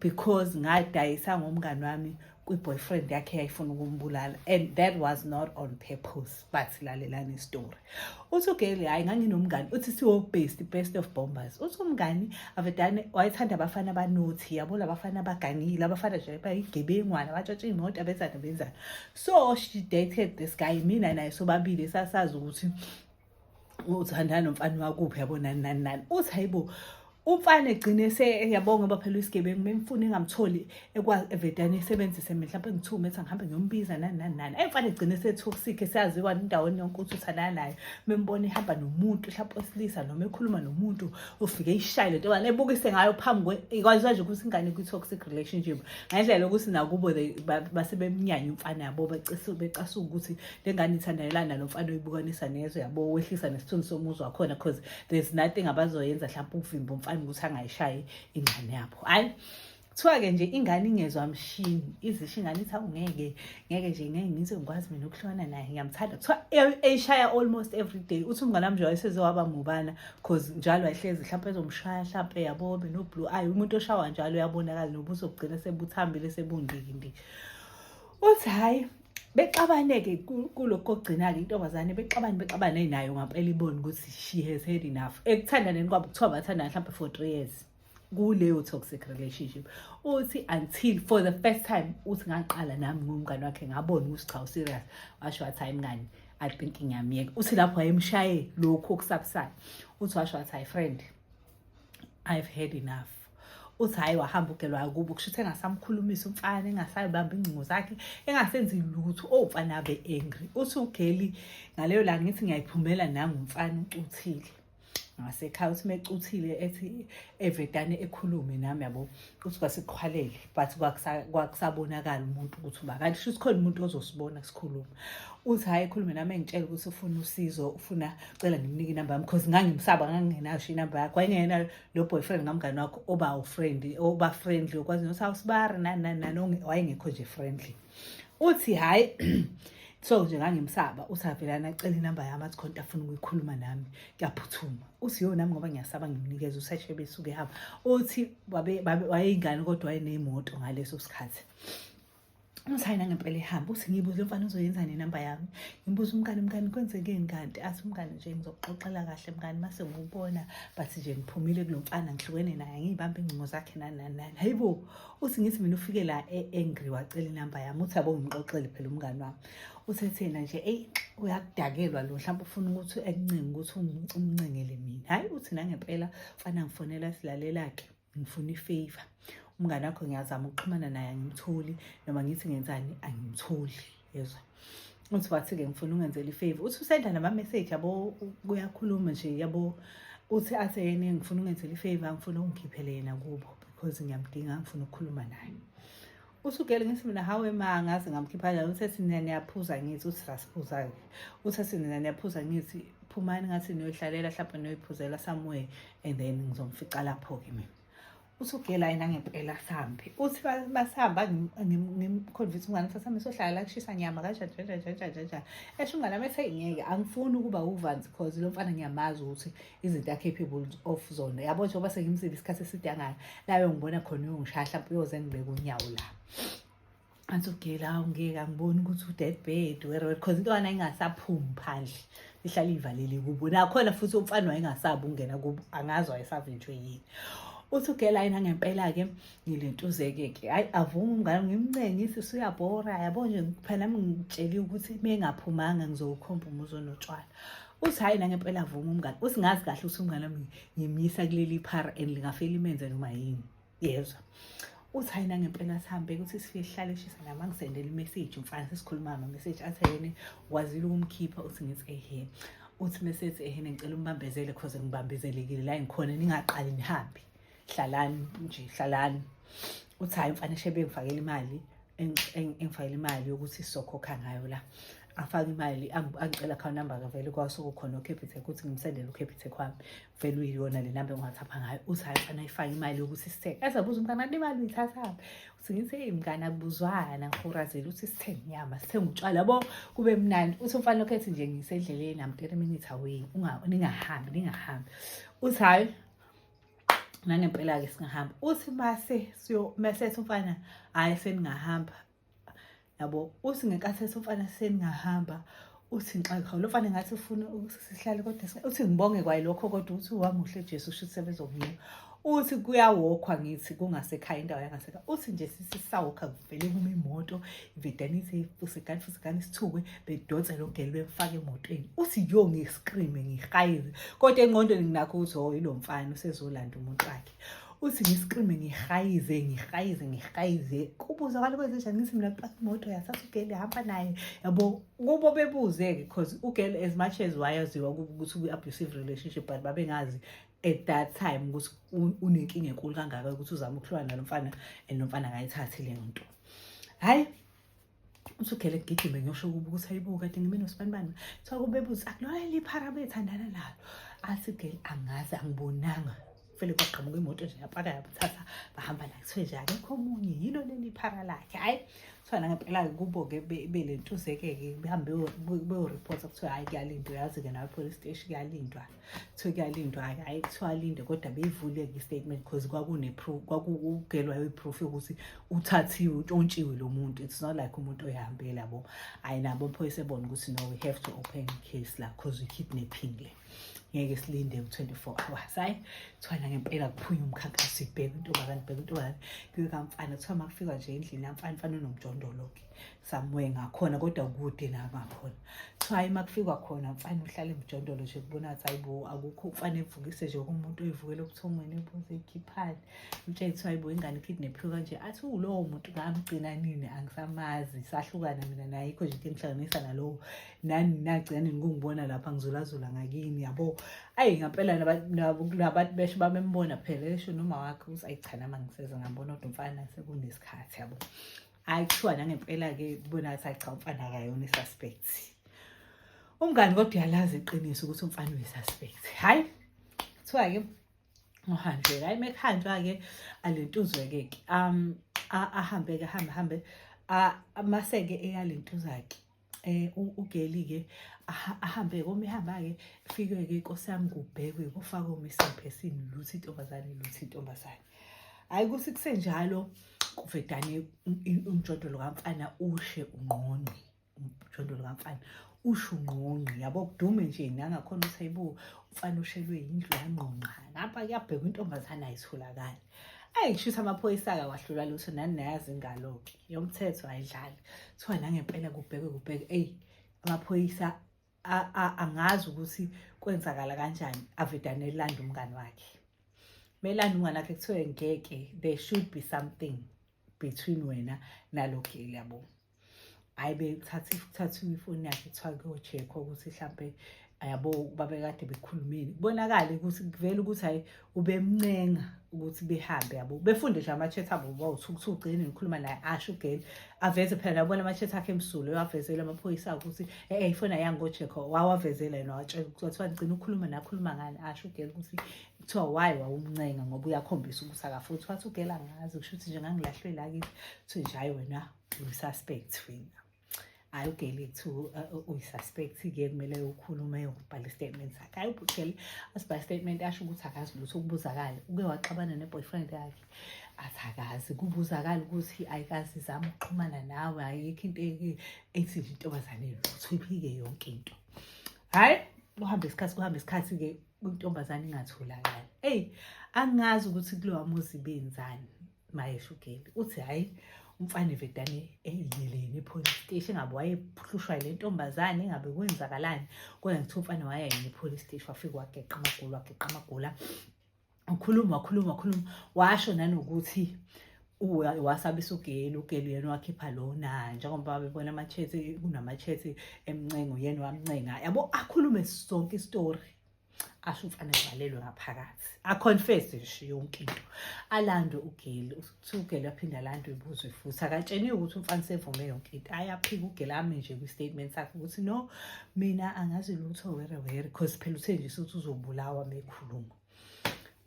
because ngadayisa ngomngani wami kwi-boyfriend yakhe yayifuna ukumbulala and that was not on purpose but silalelani istory uthi ugeli hhayi nganginomngani uthi siwo-best best of bombers uthi umngani avedane wayethanda abafana abanothi yabo labafana abagangile abafana nje bayigebengwana abatshatsha iy'moto abenzani abenzani so she dated this guy mina naye sobabili sasazi ukuthi uthandana nomfana wakuphi yabo nani nani nani uthi hayibo umfana egcine seyabonga ngoba phela uyisigebengu memfuna engamtholi evedane esebenzise mina mhlawumpe ngithume ethi angihambe ngiyombiza nani nani nani ayimfana egcine setoxic esaziwa endaweni yonke ukuthi uthandana nayo membona ihamba nomuntu mhlawumpe osilisa noma ekhuluma nomuntu ufike ishaye lento bani ebukise ngayo phambi kwazwa nje ukuthi ingane kwi-toxic relationship ngendlela yokuthi nakubo basebemnyanya umfana yabo becasuka ukuthi le ngane ithandayelana nalo mfana oyibukanisa nezwe yabo wehlisa nesithunzi somuzi wakhona because there's nothing abazoyenza mhlawumpe ukuvimba umfana ukuthi angayishayi ingane yabo hhayi kuthiwa-ke nje ingane ingezwa mshini izisho ingane ithi awu ngeke ngeke nje ngeke ngize ngikwazi mina ukuhlukana naye ngiyamthanda kuthiwa e-, eyishaya almost every day uthi umngane wami nje wayeseze waba mubana cause njalo wayehlezi mhlawumpe ezomshaya mhlawumpe yabo benoblue ayi umuntu oshawa njalo uyabonakala nobuso bugcina sebuthambile sebundikindi uthi hhayi bexabaneke kulokho ogcina-ke intombazane bexabane bexabane nayo ngampela ibone ukuthi she has had enough ekuthandaneni kwabo kuthiwa bathandana mhlawumbe for three years kuleyo toxic relationship uthi until for the first time uthi ngaqala nami ngumngane wakhe ngabona ukuthi cha userious washo wathi hayi mngani i think ngiyamyeka uthi lapho wayemshaye lokhu okusabusayo uthi washo wathi hayi friend i've had enough uthi hhayi wahamba ugelwa akubo kusho ukuthi engasamkhulumisa umfana engasayibamba ingcingo zakhe engasenzi lutho owumfana abe angry uthi ugeli ngaleyo la ngithi ngiyayiphumela nangumfana ucuthile ngasekhaya uthi mecuthile ethi evedane ekhulume nami yabo uthi kwasiqhwalele but kwakusabonakala umuntu ukuthi uba kanti shuthi khona umuntu ozosibona sikhuluma uthi hhayi ekhulume nami engitshela ukuthi ufuna usizo ufuna cela ngimnike inamba yami because ngangimsaba ngangingenayo sho inamba yakho wayengenayo lo boyfriend kamngane wakho oba ufriendly oba friendly okwazi nokuthi awusibari nani nani nani wayengekho nje friendly uthi hhayi so nje ngangimsaba uthi avelana acela inamba yami athi khonta afuna ukuyikhuluma nami kuyaphuthuma uthi yo nami ngoba ngiyasaba ngimnikeza useshe besuke hamba uthi wayeyingane kodwa wayeneyimoto ngaleso sikhathi Ngisayina ngempela ihamba uthi ngibuze umfana uzoyenza nenamba yami ngibuza umngani mngani kwenzekeni kanti athi umngani nje ngizokuxoxela kahle mngani mase ngubona but nje ngiphumile kulo mfana ngihlukene naye ngiyibamba ingcingo zakhe nani nani nani hayi bo uthi ngithi mina ufike la e-angry wacela inamba yami uthi abo ngimxoxele phela umngani wami uthethe yena nje eyi uyakudakelwa lo mhlawumbe ufuna ukuthi ekuncinge ukuthi umncengele mina hhayi uthi nangempela fana ngifonela silalela-ke ngifuna ifavor umngane wakho ngiyazama ukuxhumana naye angimtholi noma ngithi ngenzani angimtholi yezwa uthi wathi-ke ngifuna ungenzela ifavor uthi usenda nama-message yabo kuyakhuluma nje yabo uthi athe yena ngifuna ungenzela ifavor ngifuna ungikhiphele yena kubo because ngiyamdinga ngifuna ukukhuluma naye usugele ngithi mina hawe ma ngaze ngamkhipha njalo uthe sina niyaphuza ngithi uthi rasiphuza-ke uthe sina niyaphuza ngithi phumani ngathi niyoyihlalela hlapha niyoyiphuzela somewhere and then ngizomfica lapho-ke mina usugela yena ngempela sambi uthi basihamba ngimconvince umngane ukuthi sami sohlala la kushisa nyama kanjanjanjanjanjanjanja esho umngane wami ethi ngeke angifuni ukuba uvanzi cause lo mfana ngiyamazi ukuthi izinto a-capable of zona yabo njengoba sengimzile isikhathi eside angaka layo ngibona khona uyongishaya hlampe uyoze ngibeke unyawo la angisogela ngeke angiboni ukuthi u-dead bed where because into yona ingasaphumi phandle ihlale ivalele kubo nakhona futhi umfana wayengasabi ukungena kubo angazi wayesavinjwe yini uthi ugela yena ngempela-ke ngilentuzeke-ke hhayi avuma umngane ngimncengise suyabhora yabo nje phela nami ngitsheliwe ukuthi uma engaphumanga ngizowukhomba umuzi onotshwala uthi hhayi nangempela avuma umngane uthi ngazi kahle ukuthi umngane wami ngimyisa kuleli phara and lingafela imenze noma yini yezwa uthi hhayi nangempela sihambe ukuthi sifike sihlale shisa nami angisendele imeseji umfana sesikhuluma ngamameseji athi yena wazile ukumkhipha uthi ngithi ehe uthi mesethi ehe ngicela umbambezele cause ngibambezelekile la ngikhona ningaqali nihambe hlalani nje hlalani uthi hayi mfana shebe ngifakele imali engifakele imali yokuthi sizokhokha ngayo la afake imali angicela account number kavele kwaso kukhona uCapitec ukuthi ngimsendele uCapitec kwami vele uyiyona le number engiwathapha ngayo uthi hayi mfana ifake imali yokuthi sithenge ezabuza umntana le mali uyithathaphi uthi ngithe eyi mngane akubuzwana ngihorazele ukuthi sithenge inyama sithenge utshwala bo kube mnandi uthi umfana lokho ethi nje ngisendleleni am 30 minutes away ningahambi ningahambi uthi hayi nangempela-ke singahamba uthi mase mesethi umfana hhayi seningahamba yabo uthi ngenkathi ethi umfana seningahamba uthi ngixake hawu lo mfana ngathi ufuna ukuthi sihlale kodwa uthi ngibonge kwayilokho kodwa uthi wamuhle jesu usho ukuthi sebezokunika uthi kuyawokhwa ngithi kungasekhaya indawo yangasekhaya uthi nje sisisawokha kuvele kuma imoto vedanise ifusekani fusekani isithukwe bedonse lo gelo bemfake emotweni uthi yo ngiscreame ngihayize kodwa engqondweni nginakho ukuthi o oh, yilo mfana usezolanda umuntu wakhe uthi ngiscreame ngihayize ngihayize ngihayize kubuza kwalo kwenzenjani ngithi mina kuqaka imoto yasasa ugele hamba naye yabo kubo bebuze-ke because ugele as much as wayaziwa ukuthi kwi-abusive relationship but babengazi at that time ukuthi unenkinga enkulu kangaka ukuthi uzama ukuhlukana nalo mfana and lo mfana akayithathi leyo nto hhayi usugele ngigijime ngiyosho kuba ukuthi ayibo kade ngime nosibanibani kuthiwa kubebuza akulona liphara bethandana nalo athi gel angazi angibonanga vele kwaqhamuka imoto nje yapaka yamthatha bahamba la kuthiwe nje akekho omunye yilo leli phara lakhe hhayi kuthiwa nangempela-ke kubo-ke belentuze-ke-ke behambe beyoripotha kuthiwa hhayi kuyalindwa yazi-ke nawe police station kuyalindwa-ke so kuyalindwa-ke hhayi kuthiwa alinde kodwa beyivuleke i-statement because kwakuneproof kwakugelwayo iproof yokuthi uthathiwe utshontshile lo muntu it's not like umuntu oyihambela bo hhayi nabo mphoyisa ebona ukuthi no we have to open case la because we kidnapping le ngeke silinde u-24 hours hhayi kuthiwa nangempela kuphunya umkhankaso ibheke intombazane ibheke intombazane kuyokamfana kuthiwa uma kufikwa nje endlini yamfana mfana unomjondolo-ke somewhere ngakhona kodwa kude la ngakhona so hayi uma kufikwa khona mfane uhlale emjondolo nje kubona ukuthi hayi bo akukho mfane evukise nje kumuntu oyivukela ubuthongweni ebuze ikhiphani umtshele kuthiwa hayi bo ingane ikidnaphiwe kanje athi ulowo muntu ngamgcina nini angisamazi sahlukana mina naye ikho nje into engihlanganisa nalowo nani nagcina nini kungibona lapha ngizulazula ngakini yabo ayi ngampela nabantu besho bamembona phela esho noma wakhe ukuthi ayichana uma ngiseze ngambona kodwa mfana sekunesikhathi yabo hayi kuthiwa nangempela-ke kubona ngathi ayi cha umfana akayona i-suspect umngani kodwa uyalazi iqiniso ukuthi umfana uyi-suspect hhayi kuthiwa-ke ngohanjwe-ke hhayi uma kuhanjwa-ke alentuzwe-ke-ke um ahambe-ke ahambe ahambe maseke eyalentuzake eh ugeli ke ahambe koma ihamba ke fike ke inkosi yami kubhekwe kufaka umisiphe sini luthi intombazane luthi intombazane hayi kuthi kusenjalo kuvedane umjondolo kamfana ushe ungqongqi umjondolo kamfana usho ungqongqi yabo kudume nje nangakhona ukuthi ayibo umfana ushelwe yindlu yangqongqa ngapha kuyabhekwa intombazane ayitholakali ayi kushuthi amaphoyisa akawahlula lutho nani nayazi ingalo-ke yomthetho ayidlali kuthiwa nangempela kubhekwe kubheke eyi amaphoyisa angazi ukuthi kwenzakala kanjani avedane elanda umngani wakhe melanda umngani wakhe kuthiwe ngeke there should be something between wena nalo geli yabo hhayi bekuthatha kuthathwa imifoni yakhe kuthiwa kuyochekhwa ukuthi mhlampe yabo babekade bekhulumile kubonakale ukuthi kuvele ukuthi hayi ubemncenga ukuthi behambe yabo befunde nje ama-chat abo bawuthukuthi ugcine ngikhuluma naye asho ugeni aveze phela nabona ama-chat akhe emsulo wavezela amaphoyisa akho ukuthi e-e ifona yangojekho wawavezela yena watshela kuthiwa ngigcina ukukhuluma nakhuluma ngani asho ugeni ukuthi kuthiwa wayi wawumncenga ngoba uyakhombisa ukuthi akafuthi wathi ugela ngazi kusho ukuthi nje ngangilahlwe la kithi kuthiwe nje hayi wena ususpect fina hayi ugeli kuthiwa uh, uh, uyisuspect-ke kumele ukhulume yokubhala istatement sakhe hayi ubugeli asibhala istatement asho ukuthi akazi lutho ukubuzakala uke waxabana ne-boyfriend yakhe athi akazi kubuzakala ukuthi ayikazi izama ukuxhumana nawe ayikho into ethi intombazane lutho iphike yonke into hhayi kuhamba isikhathi kuhamba isikhathi-ke intombazane ingatholakali eyi angazi ukuthi kulowa muzi benzani mayesho ugeli uthi hhayi umfana evedane eyiyeleni epolice station ngabe wayehlushwa yile ntombazane ngabe kwenzakalani kodwa ngithiwa umfana wayeyini epolice station wafike wageqa amagula wageqa amagula ukhuluma wakhuluma wakhuluma washo nanokuthi wasabisa ugeli ugeli uyena wakhipha lona njengoba bebona ama-chats kunama-chats emncengo uyena wamncenga yabo akhulume sonke isitori asho umfana evalelwe ngaphakathi aconfese nje yonke into alandwe ugeli uthi ugeli aphinde alandwe ibuzwe futhi akatsheniwe ukuthi umfana sevume yonke into ayaphika ugeli ame nje kwi-statement sakhe ukuthi no mina angazi lutho were were because phela uthe nje sothi uzobulawa mekhuluma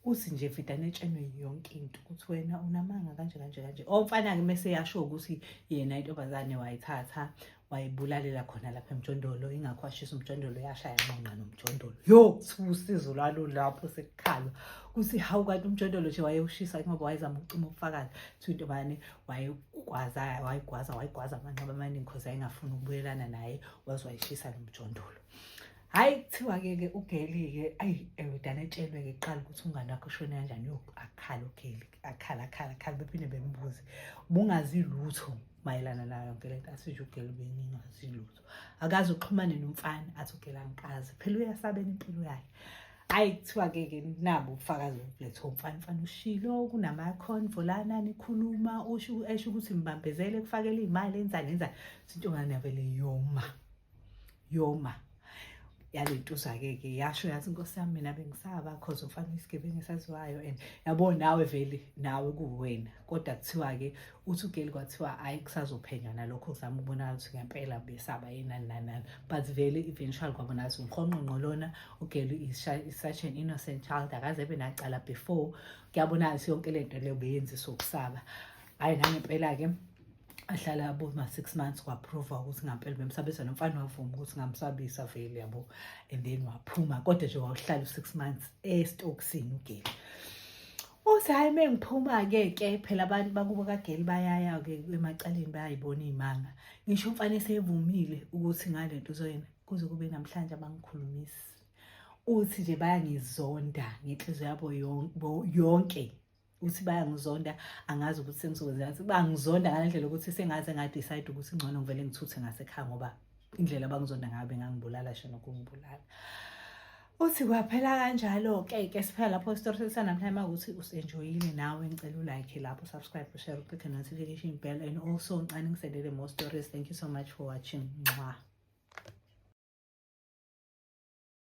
uthi nje vedane etshenwe yonke into ukuthi wena unamanga kanje kanje kanje omfana-ke oh, mese yasho ukuthi yena intombazane wayithatha wayibulalela khona lapha emjondolo ingakho washisa umjondolo yashaya nqonqa nomjondolo yo usizo lwalo lapho sekukhalwa kuthi hawu kanti umjondolo nje wayewushisa ngoba wayezama ukucima ubufakazi kuthiwa intombazane wayegwaza wayigwaza wayigwaza amanqaba amaningi khoze ayengafuni ukubuyelana naye waze wayishisa nomjondolo Hayi kuthiwa ke ke ugeli ke ayi ewudana eh, etshelwe ke qala ukuthi ungane wakho ushone kanjani yo akhala ugeli akhala akhala akhala bephinde bembuze bungazi lutho mayelana nayo yonke lento asisho ugeli bengingazi lutho akazi uxhumane nomfana athi ugeli angikazi phela uyasabela impilo yakhe hayi kuthiwa ke ke nabo ubufakazi letho umfana mfana ushilo kunama convo lana nikhuluma usho esho ukuthi ngibambezele kufakela imali enzani enzani sinto ngane yabele yoma yoma yalentuza-ke ke yasho yathi inkosi yami mina bengisaba cause umfana uyisigebengu esaziwayo and yabo nawe vele nawe kuwena kodwa kuthiwa-ke uthi ugeli kwathiwa hhayi kusazophenywa nalokho kuzama ukubonakala ukuthi ngempela besaba yenani nanani but vele eventual kwabonakala ukuthi unqonqonqo lona ugeli is such an innocent child akaze ebe nacala before kuyabonakala ukuthi yonke le nto leyo beyenzisa ukusaba hhayi nangempela-ke ahlala yabo ma-six months kwaprova ukuthi ngampela bemsabisa nomfana wavuma ukuthi ngamsabisa vele yabo and then waphuma kodwa nje wawuhlala u-six months esitokisini ugeli uthi hhayi uma ngiphuma-ke ke phela abantu bakubo kageli bayaya-ke emacaleni bayayibona iy'manga ngisho umfana esevumile ukuthi ngale nto uzoyena kuze kube namhlanje abangikhulumisi uthi nje bayangizonda ngenhliziyo yabo yonke ukuthi bayangizonda angazi ukuthi sengizokwenzela ukuthi bangizonda ngale ndlela ukuthi sengaze ngadecide ukuthi ngcono ngivele ngithuthe ngasekhaya ngoba indlela abangizonda ngayo bengangibulala sho nokungibulala uthi kwaphela kanjalo-ke ke siphela lapho isitori sesanamhlanje uma ukuthi usenjoyile nawe ngicela ulike lapho subscribe ushare uclick notification bell and also ngicane ngiselele more stories thank you so much for watching nxwa